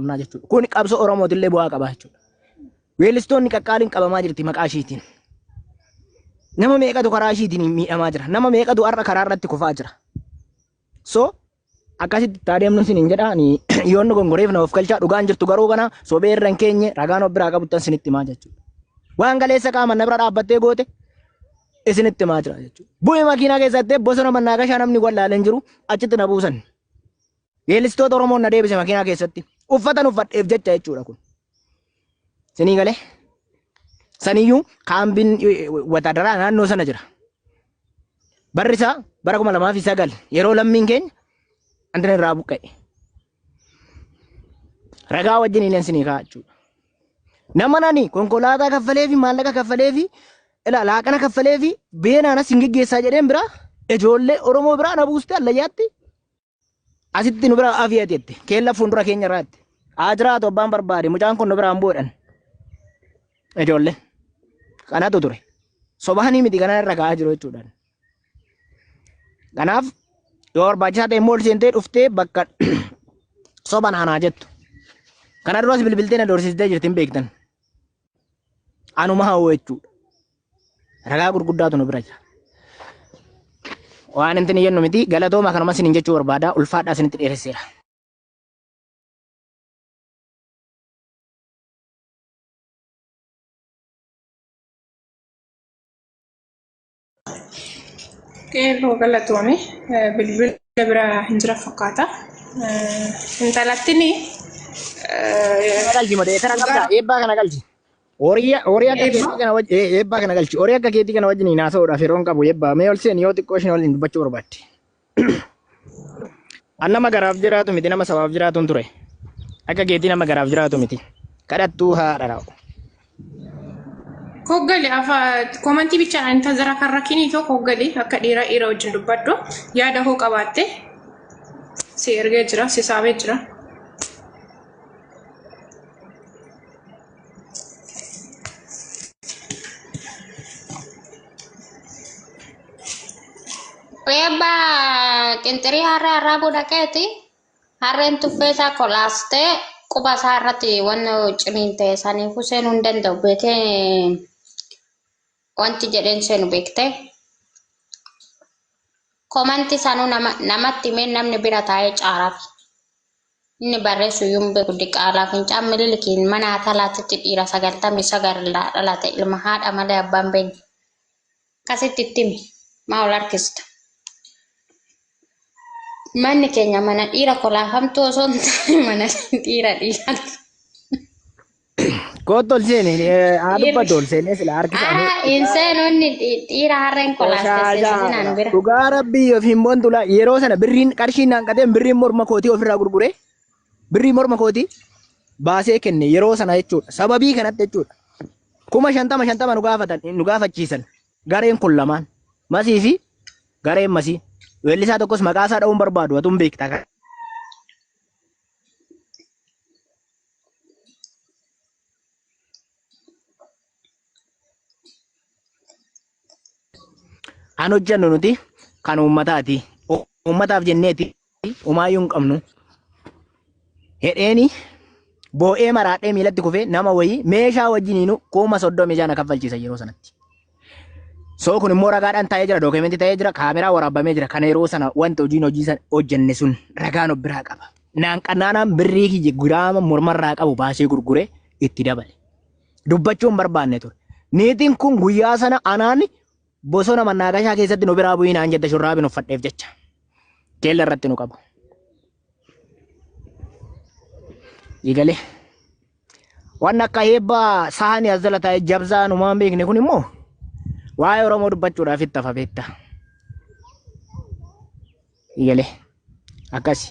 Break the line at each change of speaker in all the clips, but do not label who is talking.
qabnaa jechuudha. Kun qabsoo Oromootillee bu'aa qabaa jechuudha. Weellistoonni qaqqaaliin qabamaa jirti maqaa ishiitiin. Nama meeqatu karaa ishiitiin miidhamaa jira. Nama meeqatu har'a karaa irratti kufaa jira. So akkasitti itti adeemnu sinin jedha ani yoon nu gongoreef na of galchaa dhugaan jirtu garuu kana sobee irra hin keenye ragaan of biraa qabuttan sinitti himaa jechuudha. Waan galeessa qaama na bira dhaabbattee goote isinitti himaa jira jechuudha. Bu'ee makiinaa keessatti bosona mannaa gashaa namni wallaalee hin jiru achitti na buusan. Weellistoota Oromoon na deebise makiinaa keessatti uffatan uffadheef jecha jechuudha kun. Sinii galee saniyyuu kaambiin wataadaraa naannoo sana jira. Barri isaa bara kuma lamaa fi sagal yeroo lammiin keenya antan irraa buqqa'e. Ragaa wajjin illeen sinii kaa'aa jechuudha. Nama nani konkolaataa kaffalee fi maallaqa kaffalee fi laaqana kaffalee fi beenaanas hin geggeessaa jedheen biraa ijoollee Oromoo biraa na buustee allayyaatti Asitti nu bira afi ati jette. Keella fuuldura keenya irraatti. Haa jiraatu abbaan barbaade. Mucaan kun nu biraan bu'edhan. Ijoollee. Kanatu ture. Sobaanii miti kana irra ka'aa jiru jechuudhaan. Kanaaf yoo barbaachisaa ta'e immoo ol seentee dhuftee bakka soban anaa jettu. Kana duras bilbiltee na doorsistee jirti hin beektan. Anuma hawwa jechuudha. Ragaa gurguddaatu nu bira jira. Waan intin jennu miti galatooma kanuma sinin jechuu barbaada ulfaadhaa sinitti dheeresseera.
Qeerroo galatoome bilbila bira hin jira fakkaata. Intalattiin Kana
galchi modee tana qabdaa eebbaa kana galchi. Horii horii akka Eebba. keetii kana wajjin eebbaa kana galchi. Horii akka keetii kana wajjin hin haasa'uudhaaf yeroon qabu eebbaa. Mee ol seeni yoo xiqqoo isheen waliin dubbachuu barbaadde. An nama garaaf jiraatu miti nama sabaaf jiraatuun ture. Akka keetii nama garaaf jiraatu miti. Kadhattuu haadha raa'u.
Koggale afa komantii bichaan ani tazara kan rakkinii too koggale akka dhiira dhiira wajjin dubbadhu yaada hoo qabaatte si ergee jira si saamee jira.
Eebba qinxirii harree harraa godha keeti harreen tuffee isaa kolaastee quba isaa irratti waan ciniin ta'e saniifuu seenuu hin danda'u beekee wanti jedheen seenu beekte. Komanti sanuu nama, namatti himee namni bira taa'ee caaraaf. Inni barreessu iyyuu hin beeku. Diqaalaa fincaan Mililikiin mana Atalaatitti dhiira 99 irraa dhalate ilma haadha malee abbaa hin beekne. Akkasitti itti himi. Maa ol harkista? Manni keenya mana dhiira kolaafamtuu osoo hin taane mana dhiira dhiiraa.
Koottu ol seeni haa dubbatu ol seenee sila harkisa. Aa hin seenonni
dhiira har'a hin kolaaste seesisi naan bira. Dhugaa rabbii yoo fi
himboon tulaa yeroo sana birriin qarshiin naan qateen birriin morma kootii ofirraa gurguree birrii morma kootii baasee kenne yeroo sana jechuudha. Sababii kanatti jechuudha. Kuma shantama shantama nu gaafatan nu gaafachiisan gareen kun lamaan masii fi gareen masii. Weellisaa tokkos maqaa isaa dha'uun barbaadu atuun beektaa. Kan hojjennu nuti kan uummataati. U- Uummataaf jenneeti umaayyuu hin qabnu. Hedheeni boo'ee maraadhee miilatti kufee nama wayii meeshaa wajjiniinu kuma soddomii jaha na kaffalchiisa yeroo sanatti. So kun immoo ragaadhaan taa'ee jira, dookimentii ta'ee jira, kaameraa waraabamee jira. Kana yeroo sana wanta hojiin hojii sana hojjenne sun ragaan of biraa qaba. Naan qannaanaan birrii kiyya giraama mormarraa qabu baasee gurguree itti dabale. Dubbachuu hin barbaanne ture. Niitiin kun guyyaa sana anaan bosona mannaagashaa keessatti nu biraa bu'ii naan jette shurraabiin uffadheef jecha. Keella irratti nu qabu. Eegalee. Waan akka heebba saani as jala taa'ee jabzaa numaan beekne kun immoo waa'ee Oromoo dubbachuudhaaf itti hafa beekta. Iyyale akkasi.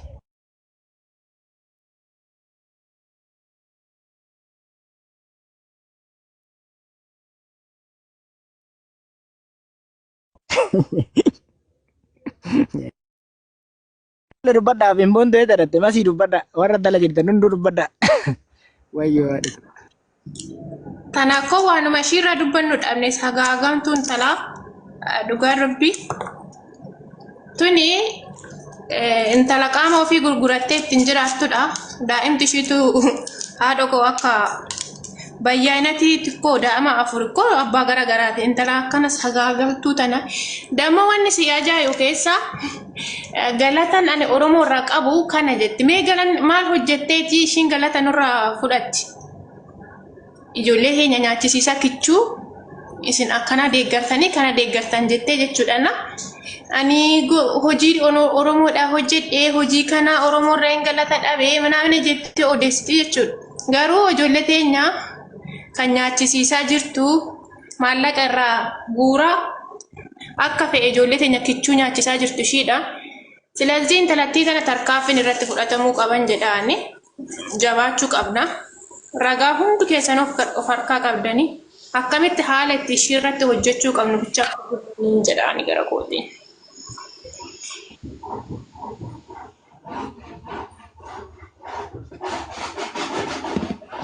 Walla dubbadha fimboon ta'ee dadhatte masii dubbadha warra dala jirtan hunduu dubbadha. Wayyoo haadhi. Tana koo
waanuma ishiirraa dubbannu dhabne sagaagamtuun tana eh, dhugaa rabbi tuni eh, intala qaama ofii gurgurattee ittiin jiraattudha. Daa'imti ishiitu haadha koo akka Bayyaanati xiqqoo daa'ima afur koo abbaa gara garaati intala akkana sagaagaltuu tana damma wanni si ajaa'ibu keessa eh, galatan ani oromoo irraa qabu kana jetti mee galan maal hojjetteeti ishiin galata nurraa fudhatti ijoollee keenya nyaachisiisa kichuu isin akkanaa deeggartanii kana deeggartan jettee jechuudhana ani go- hojii ono- oromoodhaa hojjedhee hojii kanaa oromoo irraa hin galata dhabee manaamina jettee odeessiti jechuudha. Garuu ijoollee teenya kan nyaachisiisaa jirtu maallaqa irraa guura akka fe'e ijoollee teenya kichuu nyaachisaa jirtu ishiidha. Silazii intalattii kana tarkaanfiin irratti fudhatamuu qaban jedhaani jabaachuu qabna. Ragaa hundu keessan of harkaa qabdani akkamitti haala itti ishii irratti hojjechuu qabnu bichaa qabdanii jedhaani gara kootiin.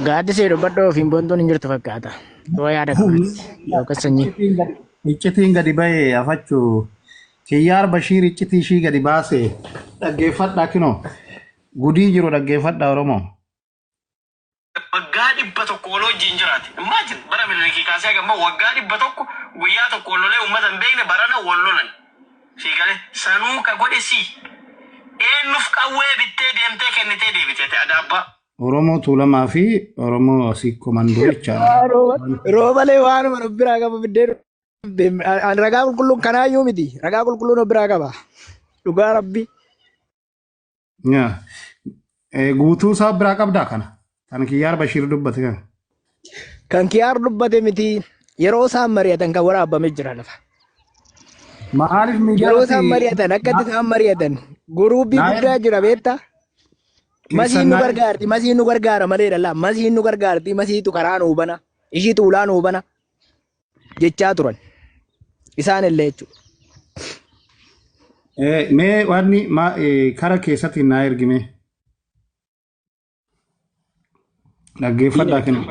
Gaaddisee dubbadhoo ofiin boontuun hin jirtu fakkaata. Yoo yaada qabanitti yookaan sanyii. Iccitiin gadi- Iccitiin gadi
ba'e afachuu kiyyaar bashiir iccitii ishii gadi baase dhaggeeffadhaa kinoo gudii jiru dhaggeeffadhaa oromoo. waggaa
dhibba tokko wal wajjin jiraate. Imagine bara Miniliki kaasee haga amma waggaa dhibba tokko guyyaa tokko wal lolee uummata hin beekne barana wal lolan. Sii galee sanuu ka godhe sii eenyuuf qawwee bittee deemtee kennitee deebite ati adaabbaa. Oromoo Tuulamaa
fi Oromoo asii komandoo jecha Roobalee
waanuma nu biraa qaba biddeen dhufte. Ani ragaa qulqulluun kanaayyuu miti. Ragaa qulqulluun of biraa qaba. Dhugaa rabbi. Yaa.
Eh, Guutuu isaa biraa qabdaa kana. Kan Kiyyaar Bashiir dubbate kana. Kan
kiyaar dubbate miti yeroo isaan mari'atan kan waraabame jira lafa.
Maaliif miidiyaa Yeroo isaan irratti mari'atan akkatti
isaan mari'atan guruubii Naayil- guddaa jira beektaa? Masiin keessan nu naayil- gargaarti, masiin nu gargaara malee dhala. Masiin nu gargaarti, masiitu karaa nu hubana. Ishiitu ulaa nu hubana. jechaa turan isaan illee jechuudha.
Eh, Mee waanni ma- eh, kara keessatti naa ergime dhaggeeffadhaa kenna.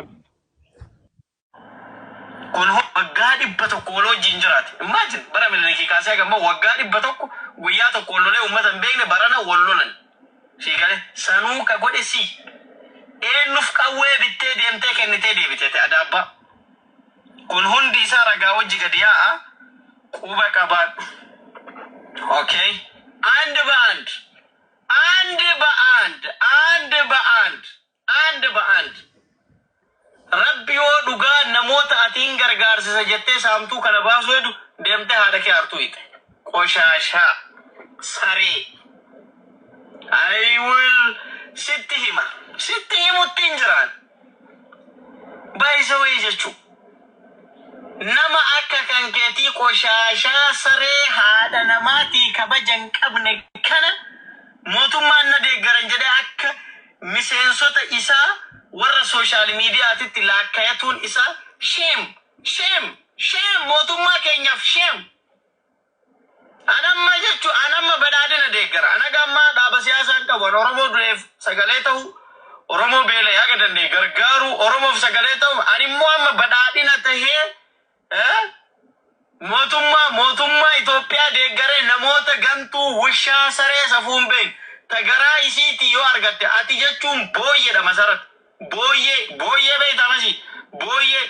kun waggaa dhibba tokko wal wajjin jiraate. Imagine bara Minilikii kaasee haga ammaa waggaa dhibba tokko guyyaa tokko wal lolee uummata hin beekne barana wal lolan. Sii galee sanuu ka godhe sii. Eenyuuf qawwee bittee deemtee kennitee deebitee ta'e adaabbaa. Kun hundi isaa ragaa wajji gadi yaa'a, quba qabaadhu. Okay? And ba'and And ba'and And ba'and And ba'and Rabbi yoo dhugaa namoota ati hin gargaarsisa jettee saamtuu kana baasuu hedu deemtee haadha kee aartuu hiite. Qoshaashaa. Saree. I will sitti hima. Sitti himuttiin jiraan. By the way jechu nama akka kan ketii qoshaashaa saree haadha namaatii kabaja hin qabne kana mootummaan na deeggaran jedhee akka miseensota isaa warra social media titti laakkayatuun isaa shame shame shame mootummaa keenyaaf shame. An amma jechu an amma badhaadhina deeggara. An haga ammaa dhaaba siyaasaa hin qabu. An Oromoo du'eef sagalee ta'uu, Oromoo beela'e haga danda'e gargaaruu, Oromoof sagalee ta'uuf an immoo amma badhaadhina tahee eh, mootummaa mootummaa Itoophiyaa deeggaree namoota gantuu, wushaa, saree safuu hin beekne ta garaa isiitii yoo argatte ati jechuun booyyedha Masarat. Booyyee booyyee beeytaa masi booyyee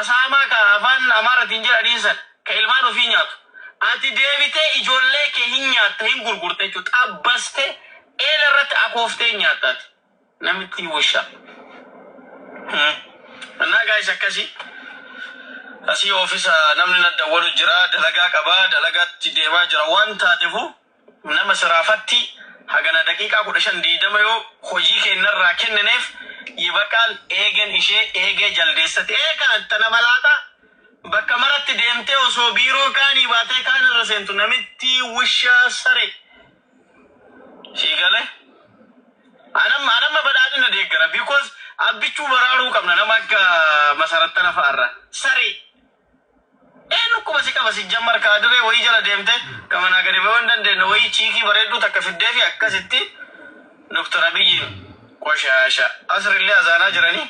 asaamaa ka afaan amaaratiin jedhaniin san ka ilmaan ofii nyaatu ati deebitee ijoollee kee hin nyaatta hin gurgurta jechuu xabbastee eela irratti akooftee hin nyaatta ati namittii wushaa Hmm. Annaa gaayis akkasi asii oofisa namni na dawwalu jira dalagaa qaba dalagaatti deemaa jira waan taatefu nama siraafatti hagana daqiiqaa 15 20 yoo hojii keenna irraa kennineef Yibaqaal eegen ishee eegee jaldeessa te'ee kaan ta nama laaxaa bakka maratti deemtee osoo biiroo kaanii baatee kaan irra seentu namittii wushaa saree sii gale anamma anamma badhaadhina deeggara because abbichuu baraaruu qabna nama akka masarat tana fa'arra saree Ee dhukkuma si qaba sijjammar kaa duree wayii jala deemte ka manaa gadi bahuu hin dandeenne wayii chiikii bareedduu takka fiddeefi akkasitti Doktar Abiyyiin qoshaasha asrillee azaanaa jiranii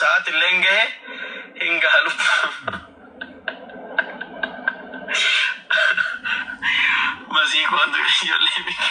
sa'aatilleen gahe hin gaha lubbuu masii koo duree ijoollee biyya.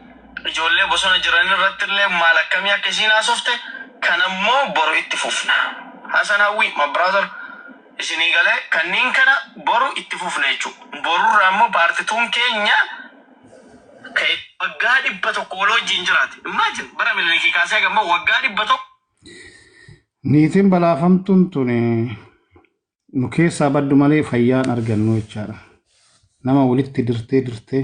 Ijoollee bosona jiran irratti illee maal akkamii akka isiin haasofte kana immoo boru itti fufna. Hasan Hawwii, my brother, isinii galee kanniin kana boru itti fufna jechuu. Boru irraa immoo part tuun keenya ka itti Waggaa 100 wal wajjiin jiraate. Imagine bara Minilikii kaasee haga ammaa waggaa 100
Niitiin balaafamtuun tuni nu keessaa baddu malee fayyaa hin argannu jechaadha. Nama walitti dirtee dirtee